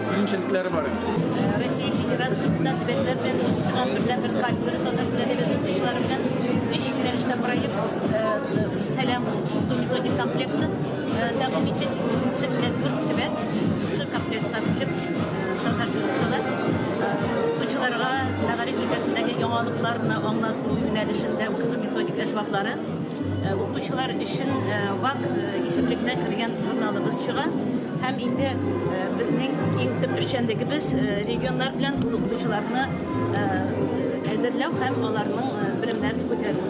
Үзенчәлекләре бар. Россия Федерациясендә төбәкләр белән федераль берлән бер кафедра татар теле әдәбияты укытучылары белән өч юнәлештә проект сәлам уку методик комплектны тәкъдим иттек. Беренче белән дүрт төбәк шушы комплектка күчеп татар теле укыталар. Укучыларга мәгариф өлкәсендәге яңалыкларны аңлату юнәлешендә укыту методик әсбаплары Укучылар өчен ВАК исемлегенә кергән журналыбыз чыга. Һәм инде безнең иң төп эшчәнлегебез регионнар белән ул укытучыларны әзерләү һәм аларның белемнәрен күтәрү.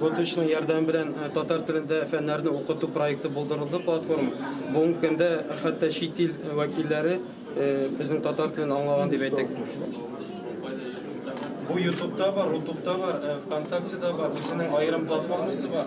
Готычның ярдәме белән татар телендә фәннәрне укыту проекты булдырылды платформа. Бүгенге көндә хәтта чит ил вәкилләре безнең татар телен аңлаган дип әйтик. Бу Ютубта бар, Рутубта бар, ВКонтактеда бар, үзенең аерым платформасы бар.